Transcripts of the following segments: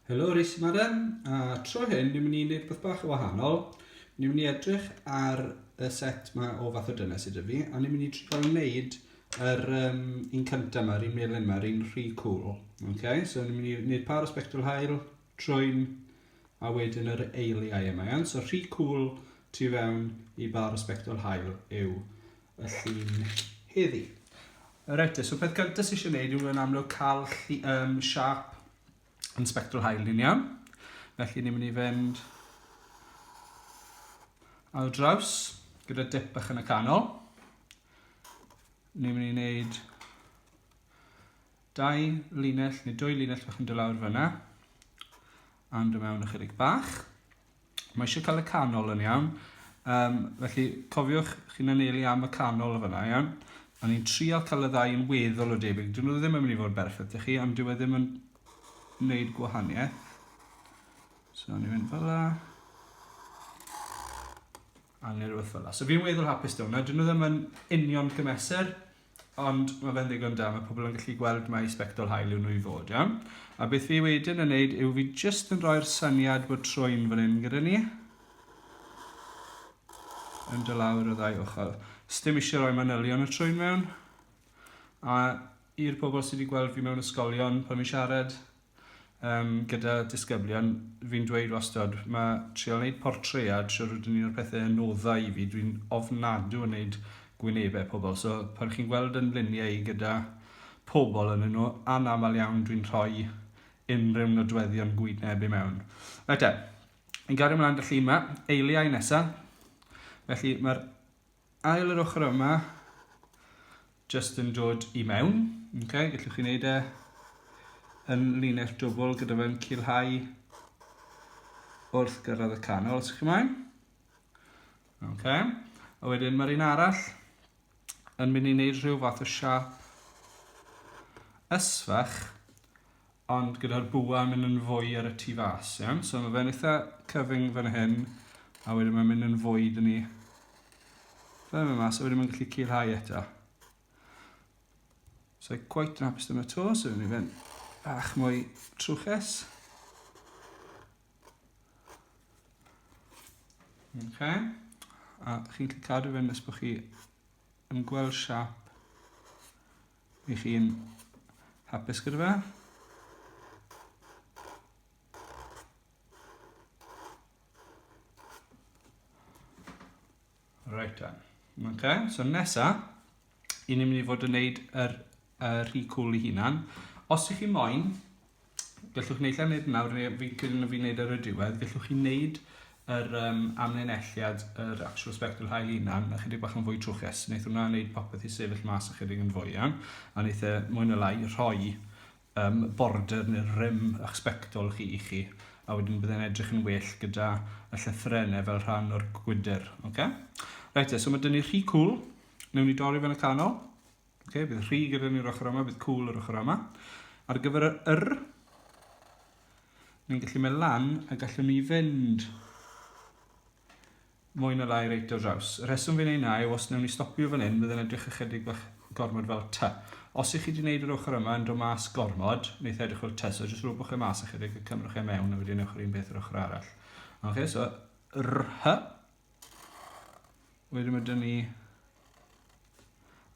Helo Rhys Madam, a tro hyn ni'n mynd i wneud beth bach o wahanol. Ni'n mynd i edrych ar y set yma o fath o dynes sydd fi, a ni'n mynd i trio wneud yr um, un cyntaf yma, yr un melyn yma, yr un rhy cool. Okay? So ni'n mynd i wneud par o spectral hael, Trwyn a wedyn yr eiliau yma iawn. So rhy cwl tu fewn i bar o sbectol hael yw y llun heddi. Reit, so peth gyntaf sy'n eisiau gwneud yw yn amlwg cael um, siap yn sbectol hael ni'n iawn. Felly ni'n mynd i fynd ar draws gyda dip bach yn y canol. Ni'n mynd i wneud Dau linell neu dwy linell fach yn dod lawr fyna. Am dod mewn ychydig bach. Mae eisiau cael y canol yn iawn. Um, felly cofiwch chi'n anelu am y canol o fyna, iawn? Ond ni'n trial cael y ddau yn weddol o debyg. Dyn nhw ddim yn mynd i fod berffaith i chi, ond dyw e ddim yn wneud gwahaniaeth. So ni'n mynd fel la. A ni'n rhywbeth fel la. So fi'n weddol hapus da hwnna. Dyn nhw ddim yn union cymesur, Ond mae fe'n ddigon da, mae pobl yn gallu gweld mai sbectol hael yw nhw i fod, iawn? A beth fi wedyn yn neud yw fi jyst yn rhoi'r syniad bod trwy'n fan hyn gyda ni. Yn dy lawr y ddau ochr. Sdim eisiau rhoi manylion y trwy'n mewn. A i'r pobl sydd wedi gweld fi mewn ysgolion pan fi'n siarad, um, gyda disgyblion, fi'n dweud wastad, mae trio wneud portread, siwr ydyn ni'n o'r pethau yn oddau i fi, dwi'n ofnadw yn wneud gwynebau pobl. So pan chi'n gweld yn luniau i gyda pobl yn nhw, anaml iawn dwi'n rhoi unrhyw nodweddion gwyneb i mewn. Rhaid e, yn gario ymlaen y llun yma, eiliau nesaf, felly mae'r ail yr ochr yma, jyst yn dod i mewn. Okay, gallwch chi wneud e yn linell dwbl gyda fe'n cilhau wrth gyrraedd y canol, os ydych chi'n moyn. Okay. A wedyn mae'r un arall yn mynd i wneud rhyw fath o siap ysfach Ond gyda'r bwa yn mynd yn fwy ar y tu fas, iawn? So mae fe'n eitha cyfyng fan hyn, a wedyn mae'n mynd yn fwy dyn ni. Fe'n mynd mas, a wedyn mae'n gallu cilhau eto. So I quite yn hapus dyna to, so ni fe'n bach mwy trwches. Okay. A chi'n gallu cadw fe'n nes bod chi yn gweld siap Ych chi'n hapus gyda fe? Right then. Okay, so nesa, i ni'n mynd i fod yn neud yr, yr rhy cool i hunan. Os ych chi moyn, gallwch wneud lle wneud nawr, neu fi'n credu na fi'n wneud ar y diwedd, gallwch chi wneud yr um, amlinelliad, yr actual spectral hael unan, a chydig bach yn fwy trwchus. Wnaeth hwnna wneud popeth i sefyll mas ychydig yn fwy iawn, a wnaeth e mwy na lai rhoi um, border neu rym a'ch spectol chi i chi, a wedyn byddai'n edrych yn well gyda y llythrenau fel rhan o'r gwydr. Okay? Reit, e, so mae dyn ni rhy cool, newn ni dorri fe'n y canol, Okay, bydd rhy gyda ni'r ochr yma, bydd cwl yr ochr yma. Ar gyfer yr yr, ni'n gallu mynd lan a gallwn ni fynd mwy na lai reit o draws. Y rheswm fi'n ei na yw os newn ni stopio fan hyn, bydd yn edrych ychydig bach gormod fel ty. Os ych chi wedi gwneud yr ochr yma yn dod mas gormod, wneud e edrych fel ty, so jyst rhywbeth chi mas ychydig a cymrwch e mewn a wedyn ewch yr un beth yr ochr arall. Ok, so rh, Wedyn mae dyn ni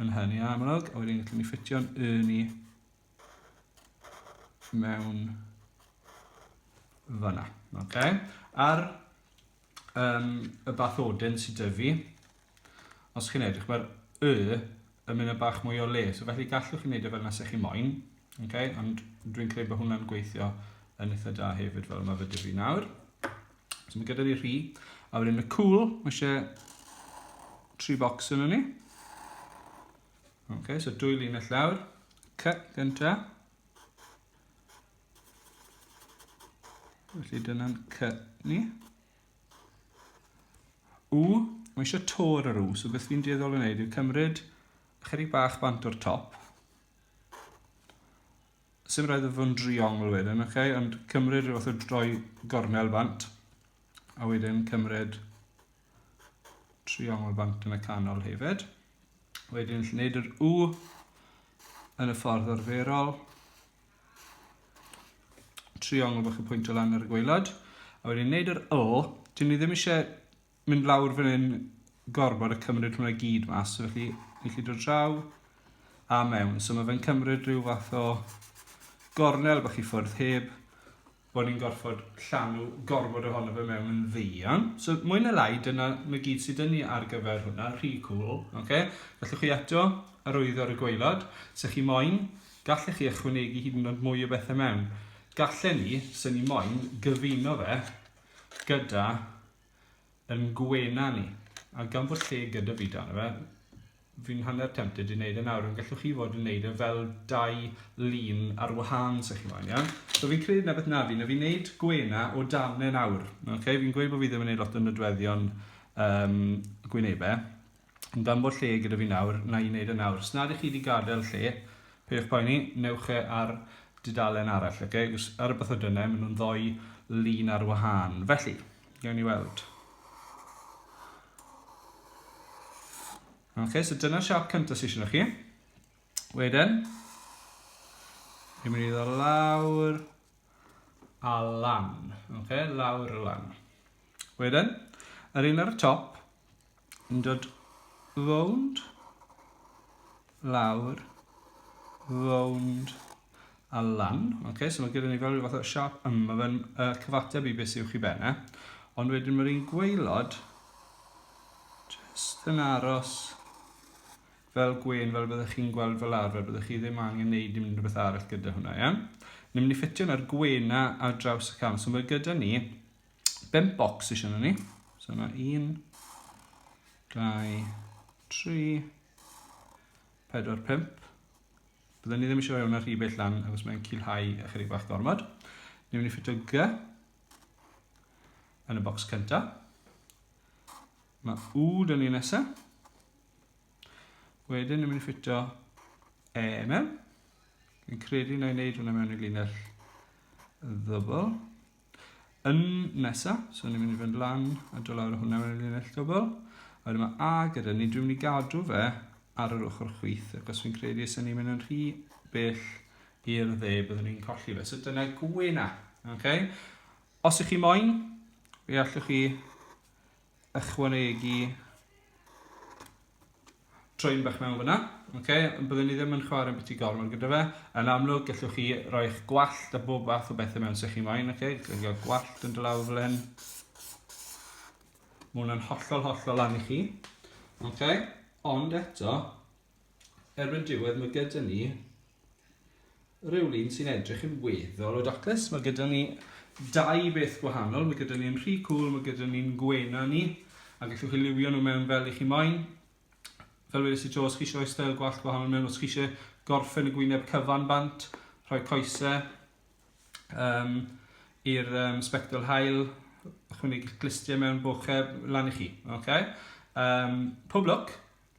yn hynny amlwg, a wedyn gallwn ni ffitio'n yn i mewn fyna. Okay. Ar um, y bathodyn sydd dy fi, os chi'n edrych, mae'r y yn mynd yn bach mwy o le. So felly gallwch chi wneud e fel nes chi moyn, okay? ond dwi'n credu bod hwnna'n gweithio yn eitha da hefyd fel mae fe dy fi nawr. So mae gyda fi rhi. A wedyn y cwl, mae eisiau tri bocs yn ni. Ok, so dwy linell lawr. Cut gynta. Felly dyna'n cut ni. U, mae eisiau tor ar u, so beth fi'n dueddol o wneud yw cymryd chydig bach bant o'r top, Sim rhaid iddo fo'n driongl wedyn, oce? Okay? Ond cymryd rhywbeth o droi gornel bant, a wedyn cymryd triongl bant yn y canol hefyd. Wedyn lle wneud yr U yn y ffordd arferol. Triongl bach y pwynt o lan ar y gweilad. A wedyn wneud yr L. Dyn ni ddim eisiau mynd lawr fan hyn gormod a cymryd hwnna i gyd mas, so felly ni chi dod draw a mewn. So mae fe'n cymryd rhyw fath o gornel bach i ffwrdd heb bod ni'n gorfod llanw gormod ohono fe mewn yn ddeian. So mwy na lai, dyna mae gyd sydd dyn ni ar gyfer hwnna, rhy cool. Okay? Gallwch chi eto arwyddo ar y gweilod, se chi moyn, gallech chi ychwanegu hyd yn oed mwy o bethau mewn. Gallen ni, se ni moyn, gyfuno fe gyda yn gwena ni, a gan fod lle gyda fi dan fe, fi'n hanner tempted i wneud e nawr, ond gallwch chi fod yn wneud e fel dau lun ar wahân, os chi moyn, iawn? So fi'n credu na beth na fi, na fi'n wneud gwena o dan e nawr, okay? Fi'n gweud bod fi ddim yn wneud lot o nodweddion um, gwynebau, Gan bod lle gyda fi nawr, na i wneud e nawr. Os nad ych chi wedi gadael lle, peidiwch poeni, newch e ar dudalen arall, oce? Okay? Os ar y bythodynnau, maen nhw'n ddoi lun ar wahân. Felly, gawn ni weld. Oce, okay, so dyna'r siap cyntaf sy'n siarad chi. Wedyn, ni'n mynd i ddod lawr a lan. Oce, okay, lawr a lan. Wedyn, yr un ar y top, yn dod rownd, lawr, rownd a lan. Okay, so mae gyda ni fel rhyw fath o siap yma, mae fe'n uh, cyfateb i beth sy'n chi benne. Ond wedyn mae'r un gweilod just yn aros fel gwein fel byddwch chi'n gweld fel arfer, byddwch chi ddim angen neud dim rhywbeth arall gyda hwnna, iawn? Ni'n mynd i ffitio na'r gwena ar draws y cam, so mae gyda ni bimp bocs eisiau nhw ni. So yna un, dau, tri, pedwar, pimp. Byddwn ni ddim eisiau rhoi hwnna rhy bell lan, achos mae'n cilhau ychydig bach gormod. Ni'n mynd i ffitio G yn y bocs cyntaf. Mae U dyn ni nesaf. Wedyn ni'n mynd i ffitio E mewn. Fi'n credu na i wneud hwnna mewn i linell ddybl. Yn nesa, so ni'n mynd i fynd lan a do lawr o hwnna mewn linell dwbl. A wedyn mae A gyda ni, dwi'n mynd i gadw fe ar yr ochr chwith, ac os fi'n credu os ni'n mynd yn rhy bell i'r dde, byddwn ni'n colli fe. So dyna gwena. Okay? Os ych chi moyn, fe allwch chi ychwanegu troi'n bach mewn fyna. Okay? Byddwn ni ddim yn chwarae beth i gormod gyda fe. Yn amlwg, gallwch chi roi eich gwallt a bob fath o bethau mewn sy'ch chi moyn. Okay? Gallwch chi gwallt yn dylawr fel hyn. Mae hwnna'n hollol, hollol lan i chi. Okay? Ond eto, erbyn diwedd mae gyda ni rhywun sy'n edrych yn weddol o daclus. Mae gyda ni dau beth gwahanol. Mae gyda ni'n rhy cool, mae gyda ni'n gwena ni. A gallwch chi liwio nhw mewn fel i chi moyn. Fel wedi si Joes, chi eisiau rhoi stael gwallt gwahanol mewn os chi eisiau gorffen y gwyneb cyfan bant, rhoi coesau um, i'r um, spectol hael, ychwanegu glistiau mewn bocheb, lan i chi. Okay? Um, pob lwc!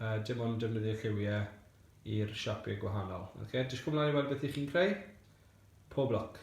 uh, dim ond defnyddio lliwiau i'r siapiau gwahanol. Okay, dysgwch ymlaen i weld beth i chi'n creu. Pob lwc!